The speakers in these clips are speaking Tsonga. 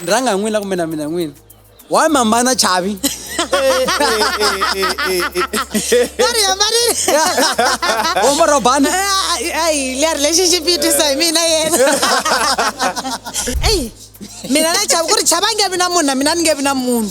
ni rhanga hi n'wina kumbe na mina n'wina wa mambana chavi omba robana ayi leri lexi xi pitisa hi mina yena eyi mina na chava ku ri chava nge vi na munhu na mina ni nge vi na munhu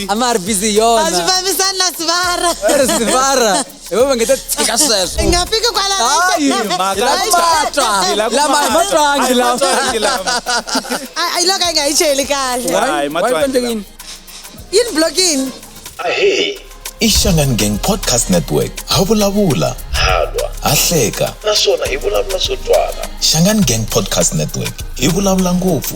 ama a ri busy hi yona a swi fambisani na sivara a ri sivara hi vo va nge ta tshika sweswo hi nga fiki kwalamatwangi lamayi loko a nga yi cheli kahleyini blokini ahee i Shangan Gang Podcast Network. Ha vulavula, ha lwa, ha hleka naswona hi vulavula swo twala. Shangan Gang Podcast Network hi vulavula ngopfu.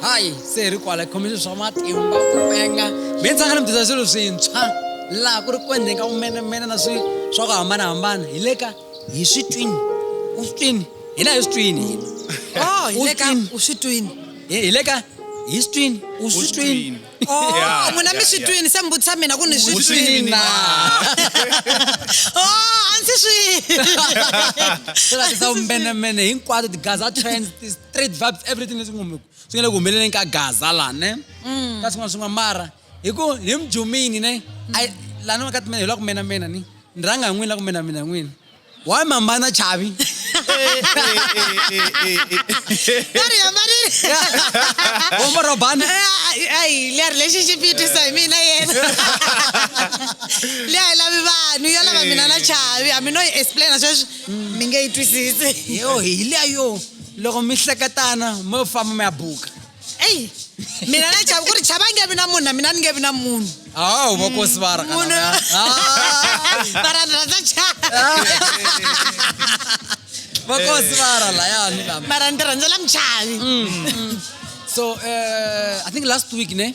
hayi se hi ri kwala khomile swa matimba ku penga mi tsaka ni mi dyisa swilo swintshwa laha ku ri ku endleni ka vumenemene na swi swa ku hambanahambana hi le ka hi swi twini u swi twini hina hi swi twini oh hi le ka u swi twini hi le ka hi swi twini u swi twini oh n'wina mi swi twini se mi vutisa mina ku ni swi twini na oh a ndzi swi swi lavisa vumenemene hinkwato tigaza trends straight vibes everything leswi ngomeko swi nga le ku humeleleni ka gaza la ne mm. ka swin'wana swin'wana mara hi ku hi mujumini ne lani wa ka timena hi la ku mena mena ni ni rhanga hi n'wini la ku mena mina n'wini why mambana chavi Uma robana. Ai, le relationship yi twisa hi mina yena. Le a yi lavi vanhu, yo lava mina na chavi. Hambi no yi explain sweswi mi nge yi twisisi yo hi liya yo loko mi hleketana mo famba mi ya buka eyi mina na chava ku ri chava nge vi na munhu na mina ni nge vi na munhu awu vakosi va munhu varandza chava vakosi va ra layani lama mara ni tirhandzela muchavi so uh, i think last week ne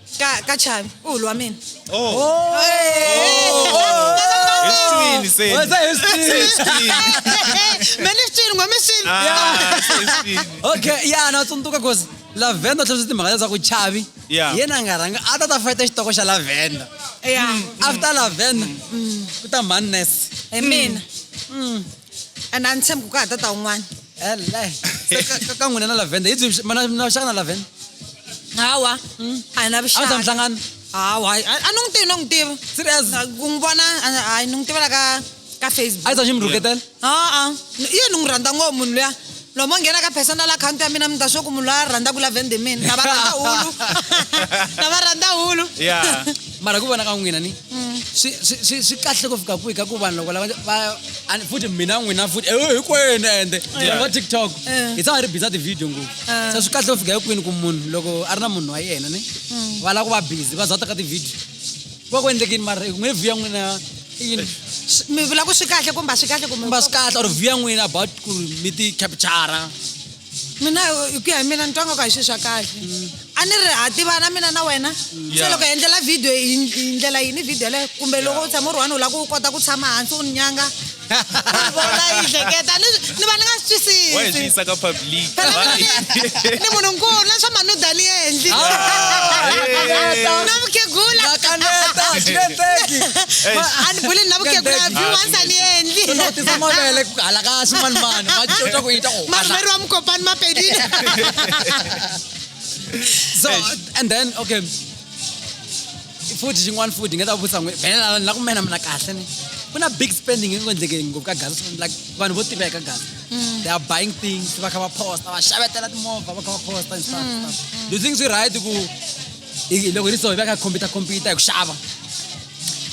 Ka ka Chavi, u lwa mina. Oh. Oh. Hi swini se. What's that? It's swini. Mele swini ngome swini. Ah, swini. Okay, yeah, na tsundzuka cause Lavenda tlhela swi timhaka leswaku Chavi yeah. yena a nga rhanga a ta ta fayita xitoko xa Lavenda. Yeah. After Lavenda ku ta Madness. Hi mina. Mm. and a ni tshembi ku ka ha tata un'wana ka n'wina na lavenda hi byi mana na vuxaka na lavenda hawa hmm. a hi na vuxaka a ta mihlangano hawa a ni n'wi tivi no n'wi tiva serious ku n'wi vona hayi ni n'wi tivela ka ka facebook a yi ta xi mi rhuketela a-a yini ni n'wi rhandza ngopfu munhu luya loko mo nghena ka personal account ya mina mi ta swo ku munhu loyi a rhandza ku la vende mina lava rhandza hulu lava rhandza hulu yeah mara ku vona ka n'wina ni mm. swi swi- swi swi kahle ku fika kwihi ka ku vanhu loko lava va- ani- futhi mina n'wina futhi eh, hinkwenu ende Yeah. va tiktok Eh. hi tshama hi ri biza tivhidiyo ngopfu Eh. se swi kahle ku fika ekwini ku munhu loko a ri na munhu wa yena ni va lava ku va busy va za ta ka tivhidiyo va ku endlekini mara ku nge vhiya n'wina yini mi vula ku swi kahle kumbe a swi kahle kumbe kumba swi kahle or vhiya n'wina about ku ri mi ti capture mina hi ku ya hi mina ni twa nga ku a hi swilo swa kahle a ni ri ha tivana mina na wena se Yeah. loko hi endlela video hi hi ndlela yini video leyo kumbe loko u tshama u ri one u lava ku u kota ku tshama hansi u ni nyanga vona yi hleketa ni ni va ni nga swi twisisi wa hi swi yisa ka public ni munhu nkulu na swa manudani ya endlile Ah, na vukhegula na kaneta swi nge endleki a ni buleni na vukhegula Kaneta. view once a ni endli u tisa mavele ku hala ka ximanimani ma cinca ku yita ku marhumeri wa mukopani mapedini so and then okay futhi xin'wana futhi nga ta vutisa n'we belela la ku mena mina kahle ni ku na big spending nge endleke ngopfu ka gaza like vanhu vo tiva eka gaza mm. they are buying things va kha va posta va xavetela timovha va kha va posta and stuff mm, mm. do you think swi right ku loko hi ri so hi va kha compita compita hi ku xava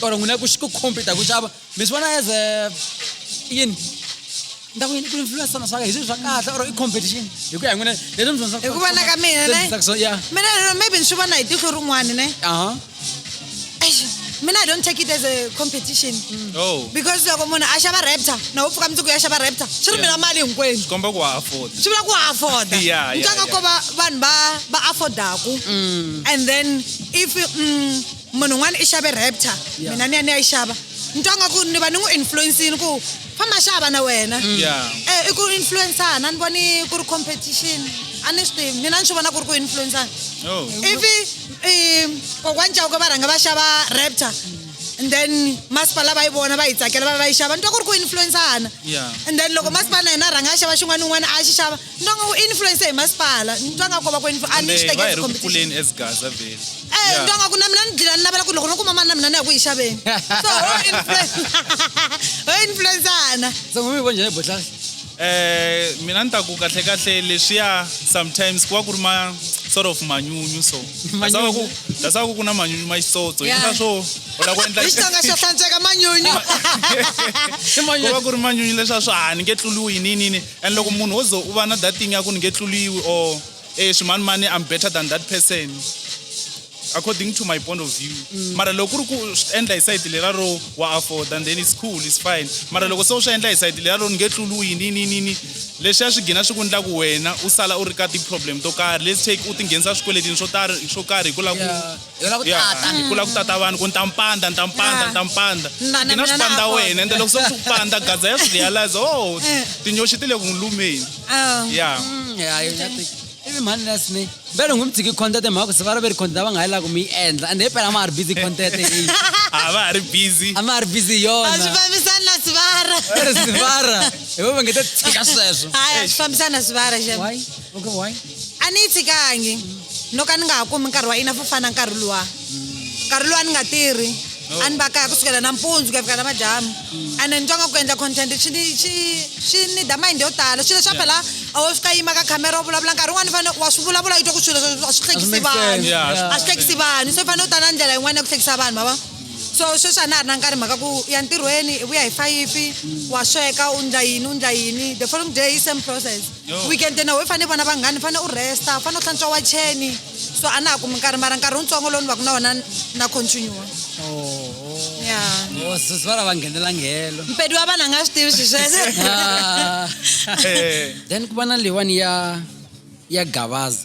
or n'wina ku ku compita hi ku xava mi swi vona as a yini ni ta ku yini ku influence swona swa ka hi swilo swa kahle or i competition hi ku ya hi n'wina leswi mi dyondzisa- Hi ku vona ka mina, leswi ne? dyondzisaka swona, yeah. mina lero maybe ni swi vona hi tihlo rin'wana ne Aha. Eish, mina i don't take it as a competition oh because loko munhu a xava raptor na u pfuka mundzuku ya xava raptor swi ri mina mali hinkwenu swi komba ku wa afford swi vula ku afforda Yeah, yeah, ntanga yeah. ko va vanhu va va affordaku and then if mm, munhu un'wana i xave raptor mina ni ya ni ya yi xava ni twa nga ku ni va ni n'wi influencini ku famba xava na wena mm. e i ku influencana ni voni ku ri competition a ni swi tivi mina ni swi vona ku ri ku influencana oh. ivi kokwani cawuke va rhanga va xava raptor and then masipala va yi vona va yi tsakela va va yi xava ni twa ku ri ku influencana and then loko masipala na yena a rhanga a xava xin'wana ni un'wana a xi xava Nitwa nga u influence hi masipala, nitwa nga ko va ku influ- a ni swi Kambe va hi tekeli ri ku competition. pfuleni as gaza vhele Eh, Yeah. nitwa nga ku na mina ni dlila ni navela ku loko no kuma mali na mina ni ya ku yi xaveni. So ho influence ho influence-ana. se n'wini vo njhani botlhari Eh, mina ni ta ku kahle kahle leswiya sometimes ku va ku ri ma sort of manyunyu so dasava ku dasava ku ku na manyunyu ma xitsotso Yeah. hina swo u lava ku endla Hi Xitsonga xa hlantsweka manyunyu. ku va ku ri manyunyu leswa swa ha ni nge tluliwi hi nini ni And loko munhu wo ze u va na that thing ya ku ni nge tluliwi or e swimanimani I'm better than that person according to my point of view mm. mara loko ku ri ku swi endla hi sayiti lera ro wa afford and then it's cool it's fine mara loko se u swi endla hi sayiti lera ro ni nge tluluyi ni ni ni ni leswi a swi gina swi ku endla ku wena u sala u ri ka ti-problem to karhi let's take u tinghenisa swikweletini swo tari swo karhi hi ku lava ku Hi lava ku Ya, tata. hi kula ku tata vanhu ku ni ta mi pandza ni ta mi pandza ni ta mi pandza Ni na- ni na mina na swipandza Afonso. wena ende loko se swi ku pandza gadza ya swi realize oh tinyoxi ti le ku n'wi lumeni Ah. ya ivi mhani lesni vele ngu mi tshiki content hi mhaka ku se va ri ve ri content va nga ha yi lava ku mi yi endla ende hi phela a ma ha ri busy content eyi a va ha ri busy a ma ha ri busy hi a swi yona fambisani na swivara Ri sivara hi vo va nge ta tshika sweswo hayi a swi fambisani na swivara xana Why? okay why a ni yi fikangi no ka ni nga ha kumi nkarhi wa ina fo fana nkarhi luwa nkarhi luwa ni nga tirhi oh. a ni va kaya ku sukela nampundzu ku ya fika namadyambu mm. ene ni twa nga ku endla content swi ni da mind yo tala swilo swa phela a wo fika yima ka camera u vulavula nkarhi un'wana fane wa swi vulavula yi twa ku swilo a swi hlekisi vanhu a swi hlekisi vanhu so i fanele u ta na ndlela yin'wana ya ku hlekisa vanhu mava so sweswi a na ha ri na nkarhi mhaka ku ya ntirhweni i vuya hi fayifi wa sweka u ndla yini u ndla yini the following day i same process weekend na we fane vona vanghani fane u resta fane u hlantswa wa cheni so a na ha kumi nkarhi mara nkarhi wutsongo lowu ni va ku na wona na continue ya sisi va lava nghenela nghelo mpedi wa vanhu a nga swi tivi swi sweswo then ku va na leyiwani ya ya gavaza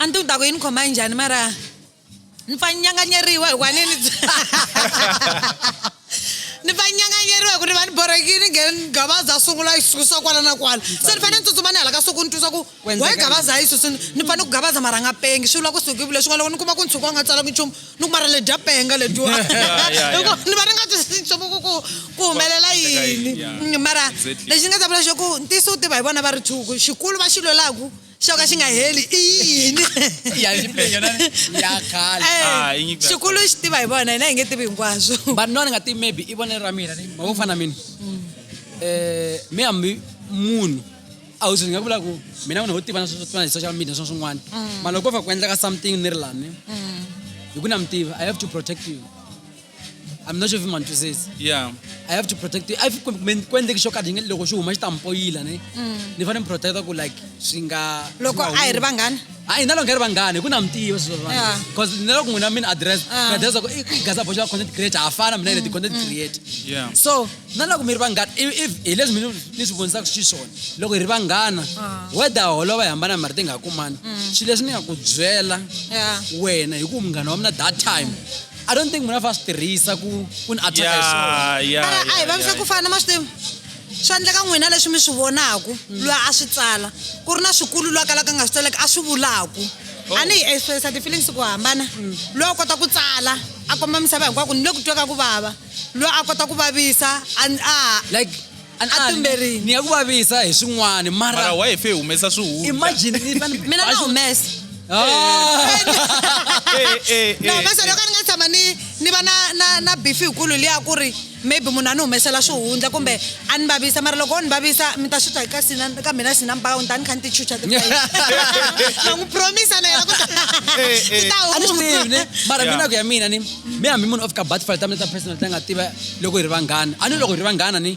a ni tivi ni ta ku yi ni khoma njhani mara ni fa nyanganyeriwa hikuva ni ni ni va nyanganyeriwa hi ku ni va ni borhekile ni nghene gabaza a sungula yi susa kwala na kwala se ni fanele ni tsutsuma ni hala ka suku ni twisa ku wa yi gabaza yi susini ni fanele ku gabaza mara nga pengi swi vula ku suki leswi nga loko ni kuma ku ni tshuka u nga tsalangi nchumu ni ku mara le dya penga letiwa Yeah, yeah, yeah. Hikuva ni va ni nga twisisi nchumu ku ku ku humelela Endleka yini, yini yeah. Mm, mara Exactly. lexi ni nga ta vula xo ku ntiyiso wu tiva hi vona va ri thuku xikulu va xi lwelaku xo ka xi nga heli i yini Ya xipenya na- ya khale. Eh, Ah, i nyiko ya xikulu xi tiva hi vona hina hi nge tivi hinkwaswo but no ni nga tivi maybe i vonelo ra mina ni ma vo fana mina um me hambi munhu a wu swi nga vula ku mina munhu wo tivana swo fana hi social media swa swin'wana mm. mara loko ko va ku endleka something ni ri lani mm. hi ku na mi tiva i have to protect you I'm not sure if man says. Yeah. I have to protect you. I have to make when the shock ading loko shu huma stampo yila ne. Mm. Ni fane protect ku like singa loko a hi ri vanghana. A hi na loko hi ri vanghana ku na mtiyo swo vanhu. Cause ni loko n'wina min address. Ah. Ni address ku i gaza boxa content creator afana mina ni mm. content mm. creator. Yeah. So na loko mi ri vanghana hi leswi mi ni swi vonisaka xiswona loko hi ri vanghana ah. weda holova hi hambana mari ti nga kumani mm. swilo leswi ni nga ku byela wena hi ku munghana wa mina that time i don't think munhu a fa swi tirhisa ku ku ni ataka hi swona a hi vavisa ku fana ma swi tivi swa endleka n'wina leswi mi swi vonaku mm. loyi a swi tsala ku ri na swikulu loyi a kalaka a nga swi tsaleki a swi vulaku Oh. a ni hi expressa ti-feelings ku hambana loyi a kota ku tsala a komba misava hinkwako ni le ku tweka ku vava loyi a kota ku vavisa a a like a a tumberini ni ya ku vavisa hi swin'wana mara mara wa hi fe humesa swihundla imagine ni fane mina na humesa Eh, eh, na eh, humesa eh. loko ni nga tshama ni ni va na na na bifi hikulu liya ku ri maybe munhu a ni humesela swihundla kumbe a ni vavisa mara loko o ni vavisa mi ta swi twa ka sina ka mina sina mbaka ni ta ni kha ni ti chucha ti na n'wi promisa na yena ku ta Eh, eh. ti ta a ni swi tivi ne huma mara Yeah. mina ku ya mina ni mi hambi munhu o fika butterfly ta mina ta personal ta nga tiva loko hi ri vanghana a ni loko hi ri vanghana ni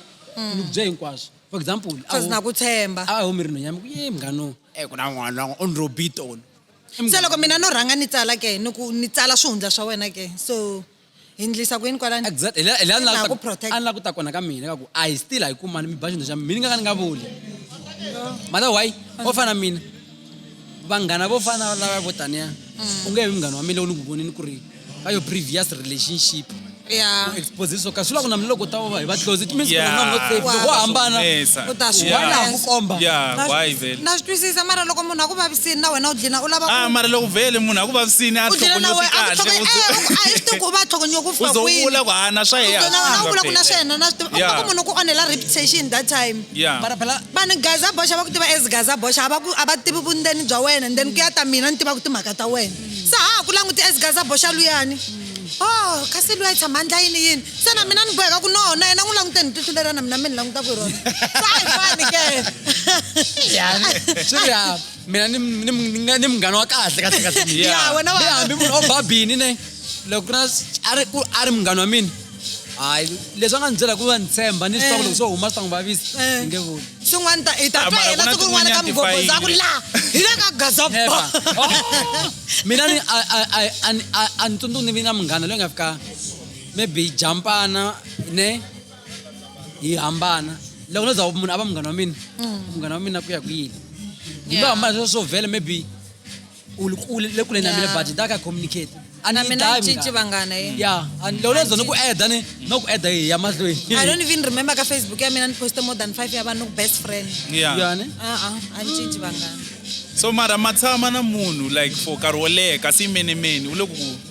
ni ku bye hinkwaswo for example a Cause wu- na ku tshemba a wu mi ri nhonyami ku ye mnghano e ku na n'wana wan'we o ni robit on se loko mina no rhanga ni tsala ke ni ku ni tsala swihundla swa wena ke so hi ndlisa ku yini kwalani exact hi la- hi la ni Na lava ku ku ta- protect. a ni lava ku ta kona ka mina ka ku a hi still a yi kumani mi ba xihundla xa mina ni nga ka ni nga vuli mara why o fana na mina vanghana vo fana na lava vo taniya mm. u nge vi munghana wa mina lowu ni ku vonini ku ri ka yo previous relationship expose swo ka swi lava ku na mina loko ta va hi va close it means loko hambana u ta swi why laha ku komba na swi twisisa mara loko munhu a ku vavisini na wena u dlina u lava ah mara loko vele munhu a ku vavisini a tlhogonyoti kahle u swi tivi ku va tlhogonyoko ku fika kwini u vula ku hana swa yena u vula ku na swa yena na swi tivi u ku munhu ku onhela reputation that time Yeah. bara phela vanhu gaza boxa va ku tiva as gaza boxa a va ku- a va tivi vundzeni bya wena then ku ya ta mina ni tivaka timhaka ta wena se ha ha ku languti as gaza boxa luyani o kasi luya i tshama ndla yini yini se na mina ni boheka ku no na yena n'wi langute ni tihlu lerana mina mi ni languta ku hi rona se a hi fani ke swi ri ya mina ni- ni ni nga- ni munghana wa kahle kahle kahle Yeah. Ya, wena wa- Ni hambi munhu o ba bini ne loko ku ri na a ri ku- a ri munghana wa mina hayi leswi a nga ni byela ku va ni tshemba ni swi tiva ku loko swo huma swi ta n'wi vavisa Eh. ni nge vuli swin'wana ta hi ta Ah, mara ku tlela na siku rin'wana ka tin'wanyana ti mugogoza ku fayini. la hi le ka gaza Epa. ba Oh. mina ni- a- a- a- a- ni- a- a ni tsundzuki ni vi na munghana loyi nga fika maybe hi jampana ne hi hambana loko no za munhu a va munghana wa mina munghana wa mina ku ya ku yini hi lo hambana sweswo swo vhela maybe le kule na mina but ni ta ka communicate a ni mina cinci vanghana ye mm. ya loko lezo ni ku eda ni no ku eda ya mahlweni i don't even remember ka facebook ya mina ni poste more than five ya vanhu ku best friend ya yani a a a ni cinci vanghana so mara ma tshama na munhu like for nkarhi wo leha kasi yimenemeni u le ku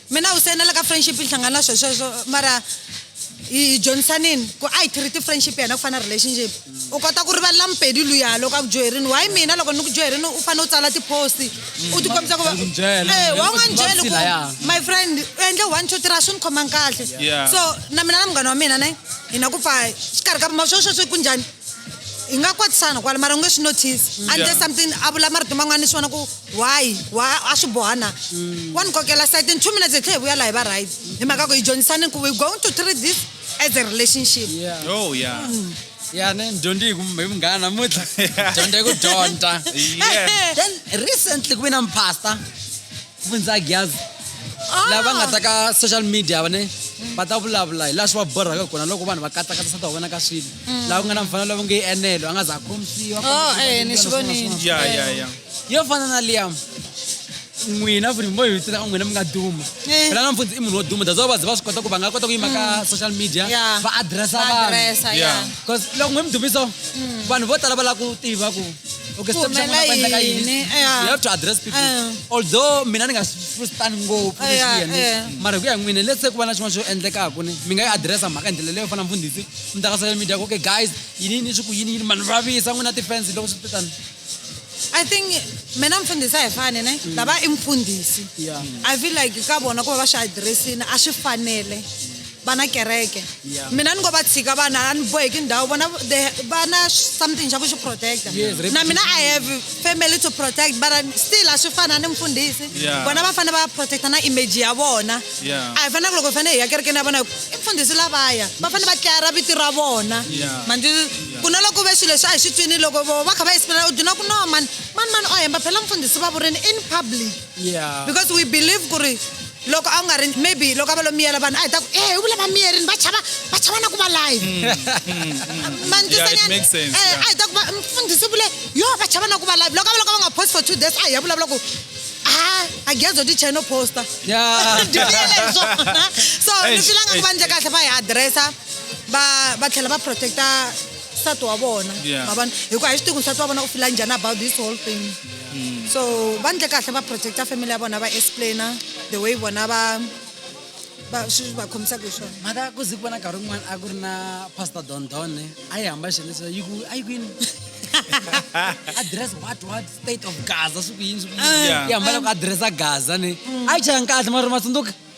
Mina u sayinela ka friendship yi hlangana na swesweswo mara hi hi dyondzisanini ku a hi treat friendship ya hina ku fana na relationship u kota ku rivalela mupedi luya loko a ku dyoherini why mina loko ni ku dyoherini u fanele u tsala tipost u tikombisa ku va Ndzi byela. Eh, wa nga ni byela ku Vutshila, ya. my friend u endle one two three a swi ni khomangi kahle Yeah. so na mina na munghana wa mina ne hi na ku pfa xikarhi ka ma swesweswi ku njhani hi nga kwatisana kwala mara u nge swi notice until Yeah. something a vula marito man'wana ni swi vona ku why wa a swi boha na mm. wa ni kokela site in two minutes hi tlhe hi vuya laha hi va right mm. hi mhaka ku hi dyondzisane ku we going to treat this as a relationship yeah. oh yeah mm. ya ne dyondzi hi munghana namuntlha dyondza hi ku dyondza then recently ku ve na mpasta fundza gyazi ah. lava nga ta ka social media vane va ta vulavula hi laha swi va borhaka kona loko vanhu va katsakatisa ta vona ka swilo mm. laha ku nga na mfanelo lava nge yi enelo a nga za khomisiwa oh, eh, ni swi vonile yo fana na liam n'wina futhi mi bohi tsaka n'wina mi nga duma Eh. phela nampfunzi i munhu wo duma that's why vadzi va swi kota ku va nga kota ku yima ka social media Yeah. va adressa vanhu Adressa, Yeah. yeah. because loko n'wi mi dumiso vanhu vo tala va lava ku tiva ku okay Ku step xa n'wina ku endleka humelela yini yini, yeah. you have to address people Eh. although mina ni nga swi frustani ngopfu Eh, leswi yena eh. mara hi ku ya hi n'wina let's say ku va na xin'wana xo endlekaku ni mi nga yi adressa mhaka hi ndlela leyo fana mfundhisi mi ta ka social media ku okay guys yini yini swi ku yini yini manhu vavisa n'wina ti-fans loko swi titani I think mina mfundhisi a hi fani ne mm. lava i mfundhisi I feel like ka vona ku va va swi addressini a swi fanele vana kereke mina ni ngo va tshika vana a ni boheki ndhawu vona va na something xa ku xi protecta na mina i have family to protect but still a swi fana ni mfundhisi vona va fanele va protecta na image ya vona a hi faneleke loko hi fanele hi ya kerekeni ya vona i mfundhisi lavaya va fanele va tlayara vito ra vona ku no loko ve swilo leswi a hi swi twini loko vo va kha va explaina u duna ku no mani mani mani o hemba phela mfundhisi va vurini in public yeah. because we believe ku ri loko a wu nga ri maybe loko a va lo miyela vanhu a hi ta ku e u vula va miyerini va chava va chava na ku va live mm, mm, mm, mantisanyana eh, a hi ta ku va mfundhisi vule yo va chava na ku va live loko a va loko va nga post for two days a hi ya vulavula ku ha a gezo ti cheno posta so ni filanga ku va ndle kahle va hi addressa va va tlhela va protecta nsati wa vona Yeah. ma vona hikuva hi swi tivi ku nsati wa vona u fila njhani about this whole thing so va ndle kahle va protecta family ya vona va explaina the way vona va va swi va khomisaka hi swona mhaka ku zi ku vona nkarhi wun'wana a ku ri na pastor dondone a yi hamba xileswa yi ku a yi kwini address what what state of gaza swi ku yini swi ku yini Yeah. yi hamba loko addressa gaza ni a yi chayanga kahle mara matsundzuka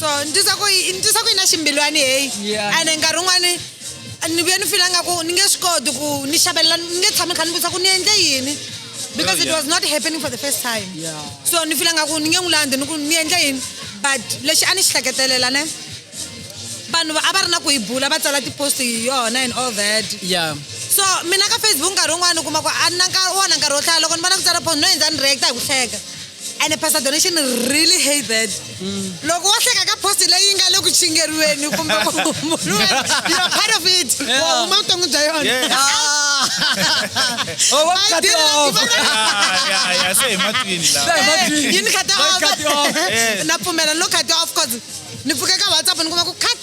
so ni twisa ku yi- ni twisa ku yi na ximbilwani heyi Yeah. ene nkarhi wun'wani ni vuye ni fila ngaku ni nge swi koti ku ni xavelela ni nge tshami kha ni vutisa ku ni endle yini because it was not happening for the first time Yeah. so ni fila ngaku ni nge n'wi landzi ni ku ni endle yini but lexi a ni xi hleketelela ne vanhu va- a va ri na ku yi bula va tsala tipost hi yona and all that ya so mina ka facebook nkarhi wun'wani u kuma ku a ni na nkarhi wona nkarhi wo hlaya loko ni vona ku tsala post no endza ni reacta hi ku hleka ene pastor donation really hate that loko wo hleka ka post leyi nga le ku chingeriweni kumbe ku humuluweni you're part of it wa huma vuton'wi bya yona Yeah. Oh, what I cut did it not off? even- Yeah, yeah, yeah, se hi matwini lawa. Hey, what do you- yini khati Why cut you off? off Yes. na pfumela ni lo khati off cause ni pfuke ka whatsapp ni kuma ku cut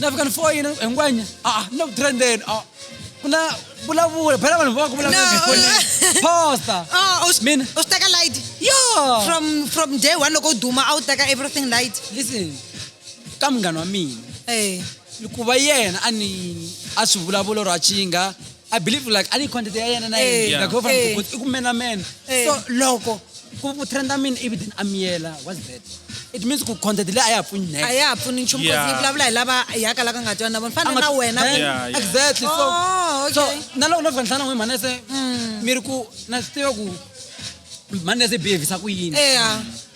na fika ni foyina hinkwanya a a ni le ku trendeni a ku na vulavula phela vanhu va ku vulavula No. efonini posta Oh, u swi- Mina. u swi teka light yo from from day one loko u duma a wu teka everything light listen ka munghana wa mina Eh, ku va yena a ni a swi vulavula or a chinga i believe like a ni content ya yena na Eh. yena like ho fana Eh. i ku mena mena Eh. so loko ku ku trenda mina ivi then a miyela what's that it means ku content leyi a ya ha pfuni next a ya ha pfuni nchumu Yeah. yeah. vulavula hi lava yaka la ka nga twana na vona fana na wena Then- Yeah, yeah. exactly so Oh, okay. so na loko no fika nhlana n'wi mhana se mi ri ku na swi tiva ku mhani se behavisa ku yini eya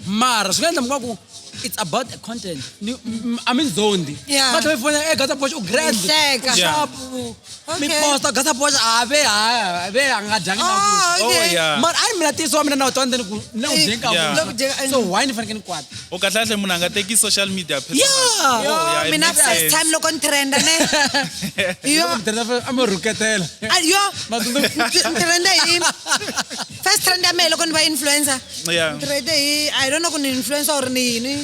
mara swi nga endla muka ku it's about the content ni m- i mean zondi Yeah. va tlhela fona e gata boxa u grand Hleka. u Yeah. sharp u- mi Okay. posta gata boxa a ve a ve a nga dyangi na Ah, ku oh okay. yeah mara a ni mina tiyiso wa mina na wu twa ndzeni ku na wu Eh, dyenka Yeah. Loku dyenka- so why ni fanekele ni kwata o kahle-kahle munhu a nga teki social media personal. Yeah. Yo, Oh, yeah, it mina makes first sense. time loko ni trenda ne yo Loko mi tirhela fe- a mi rhuketela Ah, yo Matsundzuku. Ndzi- ndzi trende hi first trend ya mehe loko ni va influencer Yeah. Ndzi trende hi i don't know ku ni influencer or ni yini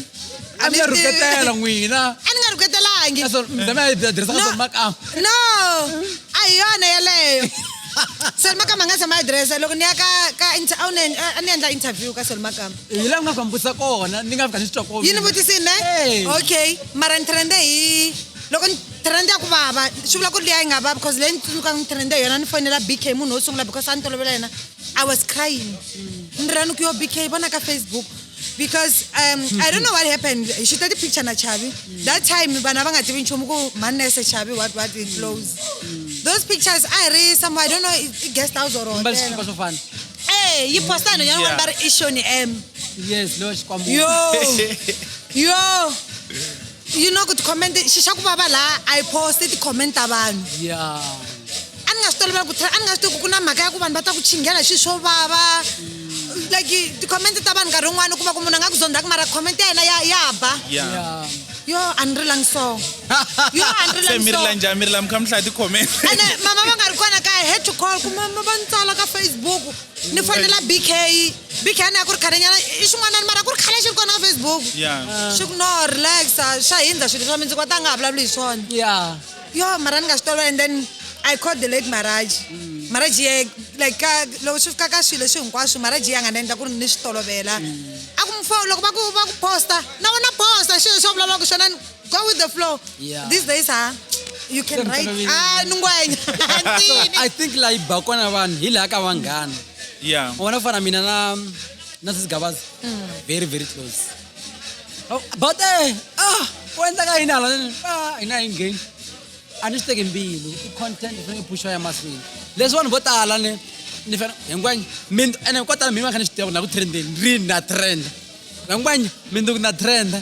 a mi ya Ani tivi. rhuketela n'wina a ni nga rhuketelangi Naswona mi ta mi ya tirhisa ka swona makama no a hi yona yeleyo selimakama a nga tshama adirese loko ni ya ka ka inter- a wu ni- a ni endla interview ka selimakama hi laha ku nga swa mi vutisa kona ni nga fika ni swi twa kona yi ni vutisi ne Hey. okay mara ni trende hi loko ni trende ya ku vava swi vula ku ri liya yi nga vava because leyi ni tsundzukaka ni trende hi yona ni fonela bk munhu wo sungula because a ni tolovela yena i was crying ni rani ku yo bk vona ka facebook because um, i don't know what happened hi xuta ti-picture na chavi that time vanhu a va nga tivi nchumu ku manese chavi what what it flows those pictures a hi ri some i don't know i- i guest house or mbali hotel swikipa swo fana Eh, yi posta nhonyana n'wana va ri i shoni m yes loyi xikwambu yo yo you know ku ti-comment xi xa ku vava laha a yi poste ti-comment ta vanhu ya a ni nga swi tolovela ku tlhela a ni nga swi tivi ku ku na mhaka ya ku vanhu va ta ku chinghela hi swilo swo vava like ti-comment ta vanhu nkarhi wun'wana u kuma ku munhu a nga ku zondzaka mara comment ya yena ya ya ba ya ya yo a ni rilangi so yo a ni se mi rila rilangi so njhani mi rila mi kha mi hlaya ti-comment ene mama va nga ri kona kaya head to call ku mama va ni tsala ka facebook ni fonela bk bk ni ya ku ri khalenyana i xin'wanani mara ku ri khale xi ri kona ka facebook ya xi ku no relaxa xa hindza swilo swa mi ndzi kwata a nga ha vulavuli hi swona ya yo mara ni nga swi tolwa and then i called the late maraji mm. maraji ye like ka loko swi fika ka swilo leswi hinkwaswo maraji ya nga ni endla ku ri ni swi tolovela mm. a ku mfo loko va ku va ku posta na wona posta xilo xo vulavulaka xona go with the flow these days ha you can write ah ni ngwenya i think la yi ba kona vanhu hi laha ka vanghana yeah u vona ku fana mina na na sisigabazi mm. very very close but eh ah wenza ka yini hala ah hina hi ngheni a ni swi teki mbilu i content i fanele puxa ya mahlweni leswi vanhu vo tala ni ni fana hinkwanya mindu ene ko tala mina kha ni swi tiva na ku trendeni ri na trend hinkwanya mindu na trend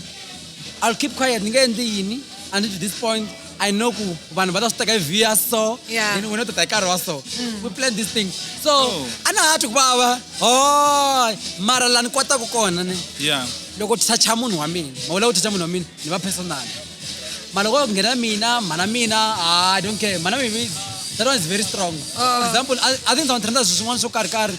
i'll keep quiet ni nge endli yini until this point I know ku vanhu va ta swi teka hi via so yeah. and wena u ta ta hi karhi wa so mm. we plan this thing so oh. a na ha twi ku vava hoy mara la ni kotaku kona ni yeah. loko thacha munhu wa mina mawula ku thacha munhu wa mina ni va personal mara loko ku nghena mina mhana mina ah, i don't care mhana mimi that one is very strong oh. example i think ndza n'wi trenda swi swin'wana swo karhi karhi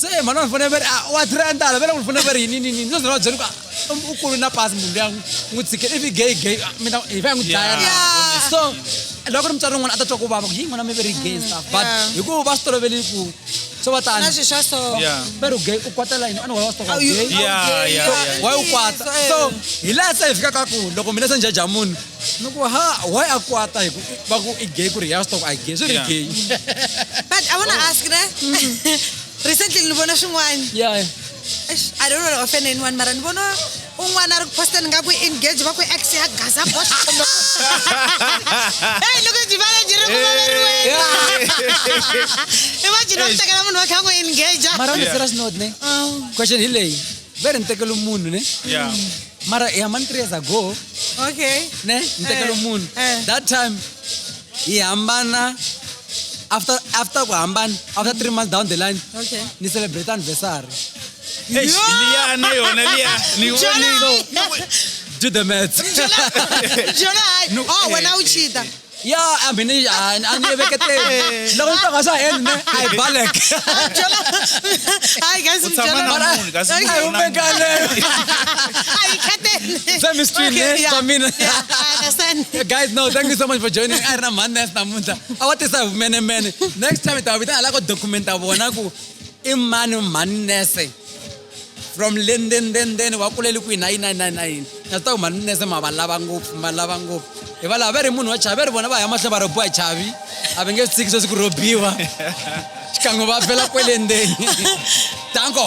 se mhani wa fanele va ri ah, wa three andala vele ku fanele va ri yini ni ni no zona va byela ku ah, u kulu na pasi munhu luya n'wi tshikele ivi gay gay ah, mina hi va ya n'wi dlaya na so loko ri mutswari wun'wana a ta twa ku vava ku yi n'wana mi ve ri gay stuff but hikuva va swi tolovele ku so va tani na swi swa so va ri gay u kwatela yini ani wa va swi toka gay wa u kwata so hi laha se hi fikaka ku loko mina se njhaja munhu ni ku ha why a kwata hi ku va ku i gay ku ri ya swi tiva ku a hi gay swi ri Yeah. gay but i wanna ask ne recently ni vona swin'wana yeah Eish, i don't wanna offend anyone mara ni vona un'wana a ri ku posteni nga ku engage va ku ex ya gaza box kumbe Hey, loko byi vale byi ri ku vaveriweni imagine va ku tekela munhu wa kha ku engage mara on a serious note ne question hi leyi vere ni tekele munhu ne yeah. mara i hambani three years ago okay ne ni tekele eh, munhu eh. that time hi hambana after after ku hambana after three months down the line okay ni celebrate anniversary liyana yona liya ni do the math jona hayi oh wena uchita Ya, a mina a a ni veketeli. Loko ni tanga sa hand ne, I balek. Byela. Hayi guys U tshama na byela. munhu, kasi Ay, munhu u na munhu. vekale. Hayi khateni. Swa mi stream, Okay, ne? yeah, Swa mina. yeah, I understand. Guys, no, thank you so much for joining. I ran man nest namuntlha. A wa tisa hi mene mene. Next time ta vita ala ko documenta vona ku i mani mani nese. from lenden then then wa kuleli kwihi na yini na yini na yini na yini na swi ta ku maninese ma va lava ngopfu ma lava ngopfu hi va lava va ri munhu wa chavi va ri vona va ya mahlweni va robiwa chavi a va nge swi tshiki sweswi ku robiwa xikan'we va fela kwelendeni tanko